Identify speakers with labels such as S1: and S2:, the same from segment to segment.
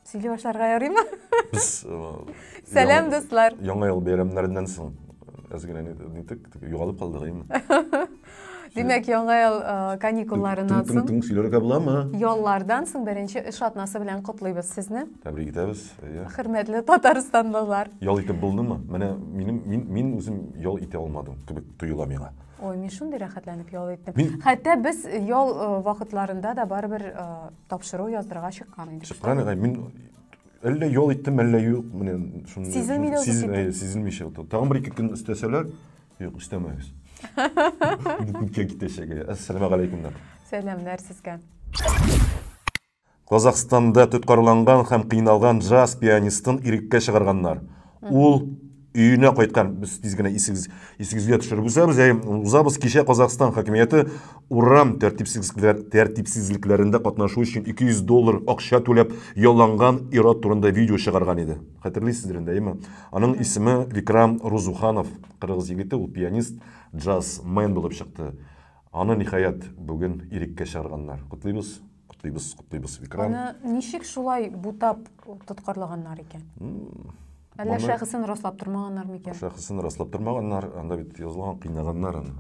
S1: сөйли башларга ярыймы без
S2: сәлам
S1: дуслар яңа ел бәйрәмнәреннән
S2: соң әз генә нитек югалып калдык әйме Димәк,
S1: яңа ел каникулларыннан соң. Тың-тың сөйләргә буламы?
S2: Яллардан соң
S1: беренче эш атнасы белән котлыйбыз сезне. Тәбрик итәбез.
S2: Хөрмәтле
S1: татарстанлылар. Ял итеп булдымы?
S2: Менә минем мин мин үзем ял итә алмадым кебек тоела миңа. Ой, мин шундый
S1: рәхәтләнеп ял иттем. Мин... Хәтта без
S2: ял
S1: э, вакытларында да барыбер э, тапшыру яздырырга чыккан идек. Чыккан идек. Мин
S2: әллә ял иттем, әллә юк, менә шуны сизелми дә
S1: сизелмичә утыр. Тагын бер ике
S2: көн өстәсәләр, юк, өстәмәгез. Күпкә китәчәге. Әссәламу алейкумнар. Сәламнәр сезгә. Казахстанда тоткарланган һәм кыйналган джаз пианистын иреккә чыгарганнар. Ул өенә кайткан. Без тиз генә исегез, исегезгә төшереп үсәбез, ә узабыз кичә Казахстан хакимияте урам тәртипсезлекләр, тәртипсезлекләрендә катнашу өчен 200 доллар акча түләп ялланган ир-ат турында видео чыгарган иде. Хәтерлисездер инде, әйеме? Аның исеме Викрам Рузуханов, кыргыз егете, ул пианист, джаз мен булып чыкты. Аны, ниһаять, бүген иреккә чыгарганнар. Котлыйбыз! Котлыйбыз, котлыйбыз, Викрам. Аны ничек
S1: шулай бутап тоткарлаганнар икән? Әллә шәхесен раслап тормаганнар микән? Шәхесен раслап тормаганнар,
S2: анда бит язылган кыйнаганнар аны.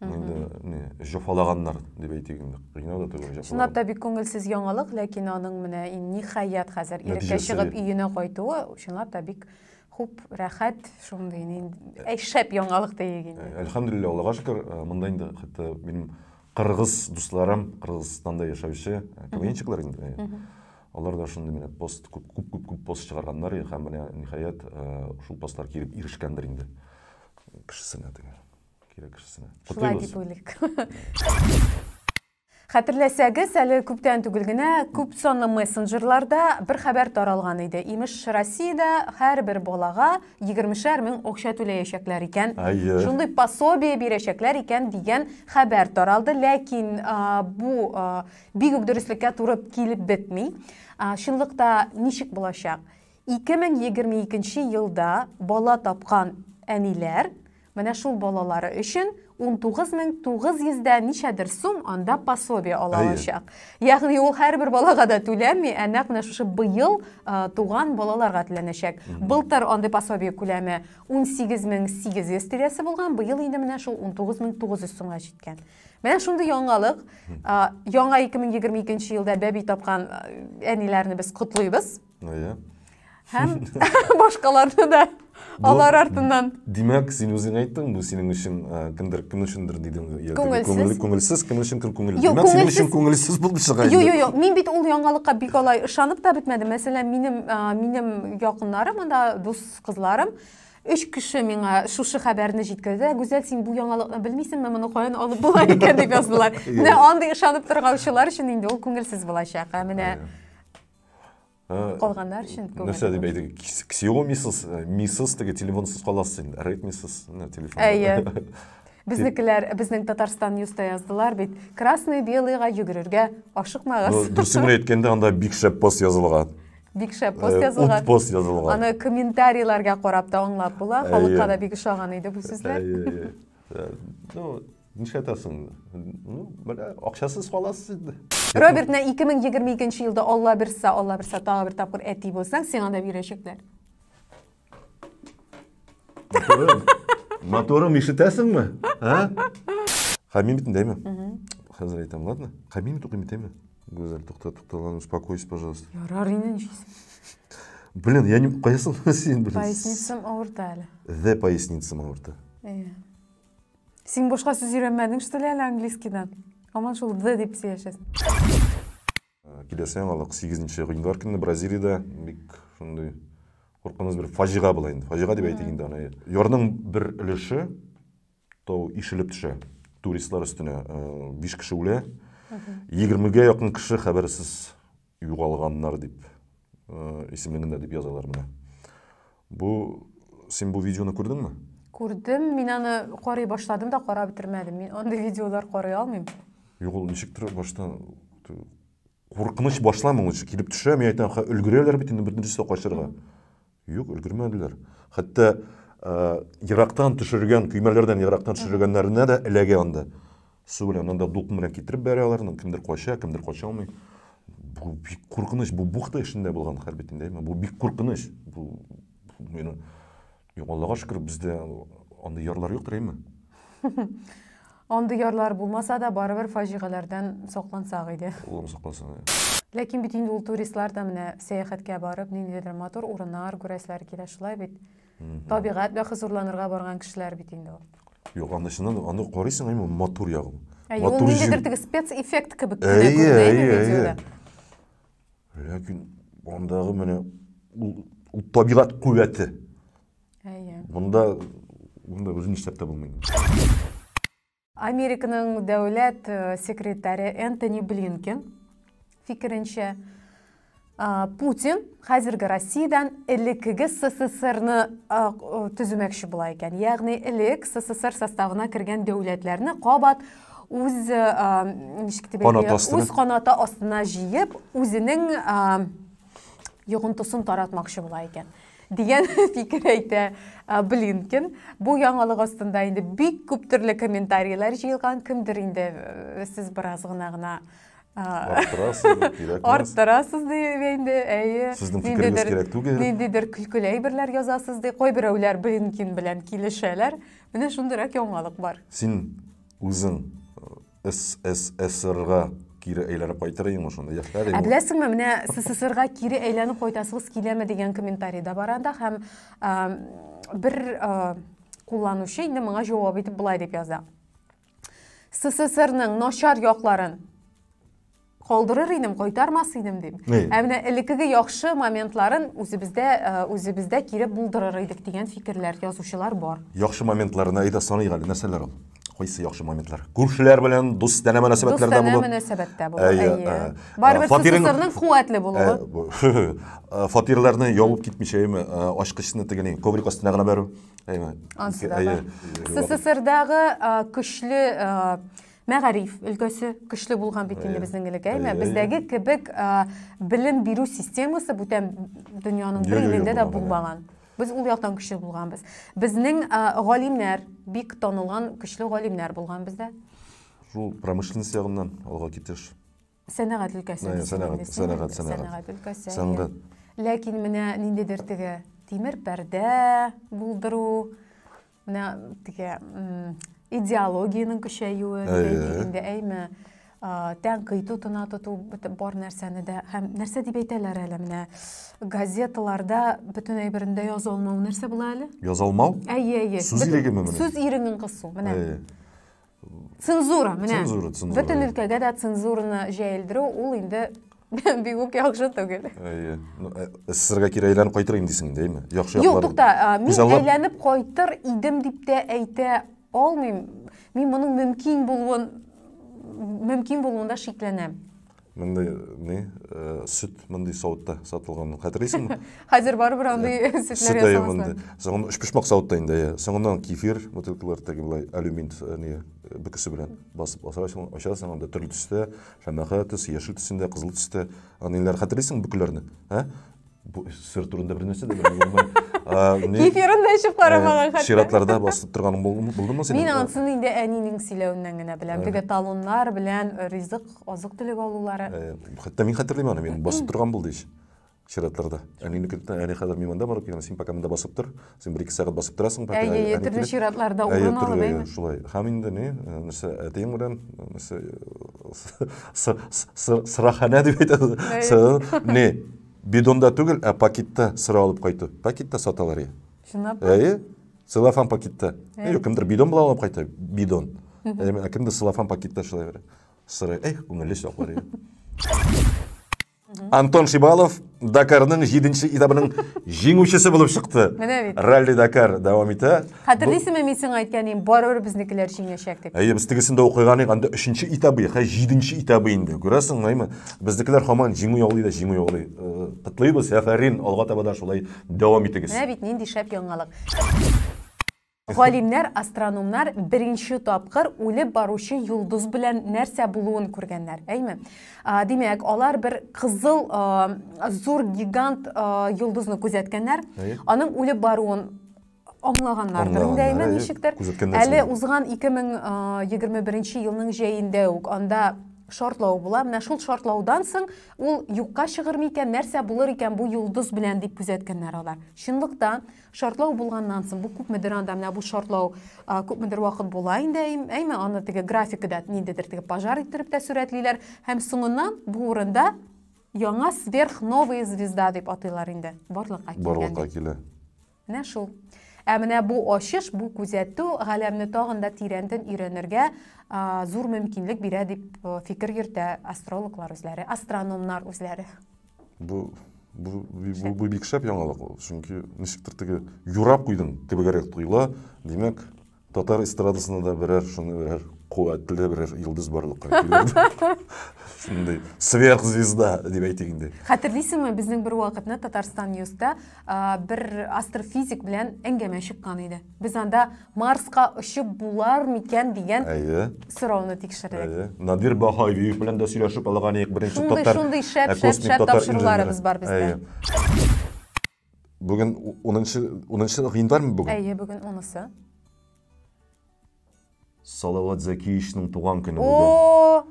S2: Инде не, җофалаганнар дип әйтик инде. Кыйнау да түгел, җофалаган. Чынлап та бик күңелсез
S1: яңалык, ләкин аның менә ниһаять хәзер иреккә чыгып өенә кайтуы, чынлап та бик хуп, рәхәт, шундый әй шәп яңалык диегез. Әлхәмдулиллаһ, Аллага шөкер,
S2: монда инде хәтта минем Кыргыз дусларым, Кыргызстанда яшәүче КВНчиклар инде. Алар да шундый менә пост күп күп күп күп пост чыгарганнар һәм менә ниһаять шул постлар килеп ирешкәндер инде кешесенә теге кирәк кешесенә. Шулай дип уйлыйк.
S1: Хәтерләсәгез, әле күптән түгел генә күп санлы мессенджерларда бер хәбәр таралган иде. Имеш, Россиядә һәрбер балага Егермешәр мең акча түләячәкләр икән. Әйе. Шундый пособие бирәчәкләр икән дигән хәбәр таралды, ләкин а, бу а, бик үк дөреслеккә туры килеп бетми. А, чынлыкта ничек булачак? 2022 елда бала тапкан әниләр Менә шул балалары өчен 19900 дә ничәдер сум анда пособие ала алачак. Ягъни ул һәрбер балага да түләнми, ә нәкъ менә шушы быел туган балаларга түләнәчәк. Былтыр андый пособие күләме 18800 тирәсе булган, быел инде менә шул 19900 сумга җиткән. Менә шундый яңалык. Яңа 2022 елда бәби тапкан әниләрне без котлыйбыз. Әйе. Һәм башкаларны да алар артыннан. Димәк, син үзең
S2: әйттең, бу синең өчен кемдер кем өчендер дидең. Күңелсез. Күңелсез кем өчен кем күңелле. Димәк, синең өчен күңелсез булды чыга. Юк, юк, юк. Мин бит ул
S1: яңалыкка бик алай ышанып та бетмәдем. Мәсәлән, минем минем якыннарым, анда дус кызларым өч кеше миңа шушы хәбәрне җиткерде гүзәл син бу яңалыкны белмисеңме моны каян алып була икән дип яздылар менә андый ышанып торгаучылар өчен инде ул күңелсез булачак ә менә калганнар өчен күңел нәрсә дип әйтик
S2: ксиомисыз мисыз теге телефонсыз каласыз инде редмисыз телефон әйе безнекеләр
S1: безнең татарстан ньюста яздылар бит красный белыйга йөгерергә ашыкмагыз дөресен генә әйткәндә
S2: анда бик шәп пост язылган бик шәп пост
S1: язылган пост язылган аны
S2: комментарийларга
S1: карап та аңлап була халыкка да бик ошаган иде бу сүзләр ну
S2: Нишләтәсең инде? Ну, менә акчасыз каласыз инде. Робертны
S1: 2022 елда Алла берсе, Алла берсе тагы бер тапкыр әти булсаң, сиңа да бирәчәкләр. Моторым,
S2: моторым ишетәсеңме? Ә? Хәмим бит дәйме? Хәзер әйтәм, ладно? Хәмим тукый бит дәйме? Гүзәл, тукта, тукта, ладно, успокойся, пожалуйста. Ярар инде нишлисең.
S1: Блин,
S2: я не кайсын син, блин. Поясницам авырта
S1: әле. The поясницам
S2: авырта. Э.
S1: Син башка сүз өйрәнмәдең, что ли, әле английскийдан? Һаман шул the дип сөйләшәсең.
S2: Киләсе яңалык 8 гыйнвар көнне Бразилиядә бик шундый куркыныч бер фаҗига була инде. Фаҗига дип әйтик инде аны. Ярның бер өлеше тау ишелеп төшә. Туристлар өстенә 5 кеше үлә. 20 гә якын кеше хәбәрсез Югалганнар дип исемлегендә дип язалар менә. Бу син бу видеоны күрдеңме? Күрдем, мин
S1: аны карый башладым да карап бетермәдем. Мин андый видеолар карый алмыйм. Юк, ул ничектер
S2: баштан куркыныч башламый ул килеп төшә, мин әйтәм, ха өлгерәләр бит инде беренчесе качарга. Юк, өлгермәделәр. Хәтта ерактан төшергән, көймәләрдән ерактан төшергәннәренә дә эләгә анда. Су белән анда дулкын белән китереп бәрә аларны, кемдер кача, кемдер кача алмый. Бу бик куркыныч, бу бухта эшендә булган хәрби тиңдәме? Бу бик куркыныч. Бу мені Аллага шөкер, бездә андый ярлар юктыр, әйме?
S1: Андый ярлар булмаса да, барыбер фаҗигаләрдән саклансак иде. Улым саклансын, ә.
S2: Ләкин бит инде
S1: ул туристлар да менә сәяхәткә барып, ниндидер матур урыннар күрәселәре килә, шулай бит. Табигать белән хозурланырга барган кешеләр бит инде ул. Юк, анда чыннан да,
S2: аны карыйсың, әйе, матур ягы. Әйе, ул ниндидер
S1: теге спецэффект кебек кенә Әйе, күренә әйе, инде әйе. видеода.
S2: Ләкин андагы менә ул, ул табигать куәте. Әйе. Монда монда үзен нишләп тә булмый. Американың
S1: дәүләт э, секретаре Энтони Блинкен фикеренчә, Путин хәзерге Россиядән элеккеге СССРны төзүмәкче була икән. Ягъни элек СССР составына кергән дәүләтләрне кабат үз ничек дип үз канаты астына җыеп, үзенең йогынтысын таратмакчы була икән. Дигән фикер әйтә Блинкин. Бу яңалык астында инде бик күп төрле комментарийлар җыелган. Кемдер инде э, сез бераз гына гына арттырасыз дип инде әйе сезнең фикерегез
S2: кирәк түгел ниндидер көлкеле
S1: әйберләр язасыз ди кайберәүләр блинкин белән килешәләр менә шундыйрак яңалык бар син
S2: үзең э, СССРга кире әйләнеп кайтыр идең шунда яшьләр Ә беләсеңме, менә
S1: СССРга кире әйләнеп кайтасыгыз киләме дигән комментарий да бар анда һәм бер кулланучы инде моңа җавап итеп болай дип яза. СССРның начар якларын Калдырыр идем, кайтармас идем дим. Ә менә элеккеге яхшы моментларын үзебездә э, үзебездә кире булдырыр идек дигән фикерләр, язучылар бар. Яхшы моментларына
S2: әйдә саныйк әле, нәрсәләр ул? Кайсы яхшы моментлар? Күршеләр белән дустанә мөнәсәбәтләрдә булу. Дустанә мөнәсәбәттә булу. Әйе.
S1: Э, э, Барыбер сусызның куәтле булуы.
S2: Фатирларны ябып китмичә, әйме, ачкычны тегенең коврик астына гына бәрү. Әйме. Ансыда.
S1: СССРдагы көчле мәгариф өлкәсе көчле булган бит инде безнең элек әйме бездәге кебек белем бирү системасы бүтән дөньяның бер илендә дә булмаган без ул яктан көчле булганбыз безнең галимнәр бик танылган көчле галимнәр булган бездә шул
S2: промышленность ягыннан алга китеш Сәнәгать өлкәсе.
S1: Сәнәгать, сәнәгать, сәнәгать. Сәнәгать өлкәсе. Сәнгать. Ләкин менә ниндидер теге тимер пәрдә булдыру, менә теге идеологиянең көчәюе дигәндә әйме тәнкыйть утына тоту бар нәрсәне дә һәм нәрсә дип әйтәләр әле менә газеталарда бөтен әйберендә яза алмау нәрсә була әле яза алмау әйе
S2: әйе сүз ирегеме менә сүз иреген кысу менә
S1: Цензура, менә. Цензура, цензура. Бөтен өлкәгә дә цензураны җәелдерү ул инде бик үк яхшы түгел. Әйе. Ну, э,
S2: СССРга кире әйләнеп кайтыр инде дисең, дәйме? Яхшы яклар. Юк, тукта, а, мин
S1: күзаллап- әйләнеп кайтыр идем дип тә әйтә алмыйм. Мин моның мөмкин булуын мөмкин булуында шикләнәм. Мондый
S2: ни, сөт мондый савытта сатылганын хәтерлисеңме? Хәзер барыбер андый
S1: сөтләр ясамаслар. Соңыннан өчпочмак
S2: савытта инде, иә. Соңыннан кефир бутылкалар теге былай алюмин не бөкесе белән басып асырасың, ачасың, анда төрле төстә, шәмәхә төс, яшел төсендә, кызыл төстә. Аниләр хәтерлисеңме бөкеләрне? Ә? Бу сыр турында бер нәрсә дә белмим. Кефирын
S1: да эчеп карамаган хәтта. Чиратларда басып торганың
S2: булдымы синең? Мин ансыны инде
S1: әнинең сөйләвеннән генә беләм. Теге талоннар белән ризык, азык төлек алулары. Хәтта мин хәтерлим
S2: аны, мин басып торган булды ич. Чиратларда. Әнинеке әни хәзер мин монда барып килгән, син пока монда басып тор. син бер ике сәгать басып торасың әйе әйе төрле
S1: чиратларда урын алып әйе шулай һәм инде ни
S2: нәрсә әтиең белән нәрсә сыраханә дип әйтәбез не бидонда түгел ә пакетта сыра алып кайту пакетта саталар чынлап әйе
S1: целлофан
S2: пакетта юк кемдер бидон белән алып кайта бидон ә кемдер целлофан пакетта шулай бер сыра эх күңелле чаклар Антон Шибалов Дакарның 7-нче этабының җиңүчесе булып чыкты. Менә бит. Ралли Дакар дәвам итә. Хәтерлисеңме мин сиңа
S1: әйткән идем, барыбер безнекеләр җиңәчәк дип. Әйе, без тегесендә укыган
S2: идек, анда 3-нче этабы, хәзер 7-нче этабы инде. Күрәсең, мәйме? Безнекеләр һаман җиңү яулый да җиңү яулый. Э, Котлыйбыз, афәрин, алга таба да шулай дәвам итегез. Менә бит нинди шәп яңалык.
S1: Галимнәр, астрономнар беренче тапкыр үлеп баручы йолдыз белән нәрсә булуын күргәннәр, әйме? Димәк, алар бер кызыл зур гигант йолдызны күзәткәннәр, аның үлеп баруын аңлаганнардыр инде әйме ничектер. Әле узган 2021 елның җәендә үк анда шартлау була. Менә шул шартлаудан соң ул юкка чыгырмы икән, нәрсә булыр икән бу йолдыз белән дип күзәткәннәр алар. Чынлыкта Шартлау булганнан соң, бу күпмедер анда менә бу шартлау күпмедер вакыт була инде, әйме, аны теге графикада ниндидер теге пожар иттереп тә сурәтлиләр һәм соңыннан бу урында яңа сверхновая звезда дип атыйлар инде. Барлыкка килгән. Барлыкка килә.
S2: Менә шул.
S1: Ә менә бу ачыш, бу күзәтү галәмне тагын да тирәнтен өйрәнергә зур мөмкинлек бирә дип фикер йөртә астрологлар үзләре, астрономнар үзләре. Бу
S2: бу бу, бу бик шәп яңалык ул. Чөнки ничектер теге юрап куйдың кебегрәк тоела. Димәк, татар эстрадасында да берәр шуны берәр куәтле берәр йолдыз барлыкка килер. Шундый сверхзвезда дип әйтик инде. Хәтерлисеңме, безнең
S1: бер вакытны Татарстан Ньюста бер астрофизик белән әңгәмә чыккан иде. Без анда Марска очып булар микән дигән Әйе. сорауны тикшердек. Әйе. Надир Баһаевиев
S2: белән дә сөйләшеп алган идек. Беренче Шундый, татар шундый шәп, ә, шәп, космик шәп
S1: татар тапшыруларыбыз инженеры. бар бездә. Әйе.
S2: Бүген 10 10 гыйнвармы бүген? Әйе, бүген унысы. Салават Зәкиевичның туган көне бүген. О!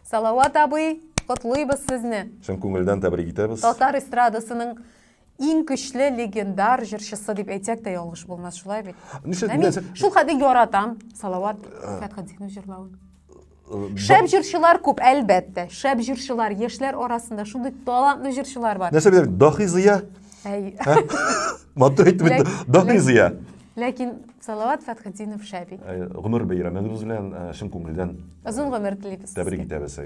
S2: Салават
S1: абый, котлыйбыз сезне. Чын күңелдән тәбрик
S2: итәбез. Татар
S1: эстрадасының иң көчле легендар җырчысы дип әйтсәк тә ялгыш булмас, шулай бит? Нишләп? Ә мин шул хәтле яратам Салават Фәтхетдинов җырлавын. Шәп җырчылар күп, әлбәттә. Шәп җырчылар, яшьләр арасында шундый талантлы җырчылар бар. Нәрсә беләм, Дахи Зыя?
S2: Әй. Матур әйтеп бит, Дахи Зыя. Ләкин
S1: Салават Фәтхетдинов шәп ит. Гомер бәйрәмегез
S2: белән чын күңелдән озын гомер телибез.
S1: Тәбрик итәбез.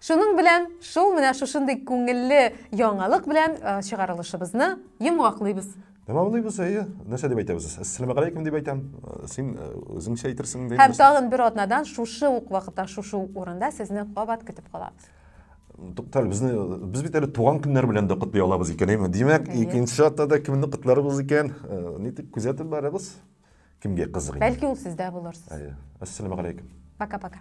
S1: Шуның белән шул менә шушындый күңелле яңалык белән чыгарылышыбызны йомгаклыйбыз. Тәмамлыйбыз,
S2: әйе. Нәрсә дип әйтәбез? Әссәламәгаләйкүм дип әйтәм. Син үзеңчә әйтерсең инде. Һәм тагын бер атнадан
S1: шушы ук вакытта, шушы ук урында сезне кабат көтеп калабыз. Туктале, безне
S2: без бит әле туган көннәр белән дә котлый алабыз икән, әйме? Димәк, икенче атнада кемне котларбыз икән? Нитеп күзәтеп барабыз. Кемгә кызык
S1: инде? Бәлки ул сездә
S2: булырсыз.
S1: Әйе. Ассаламу алейкум. Пока-пока.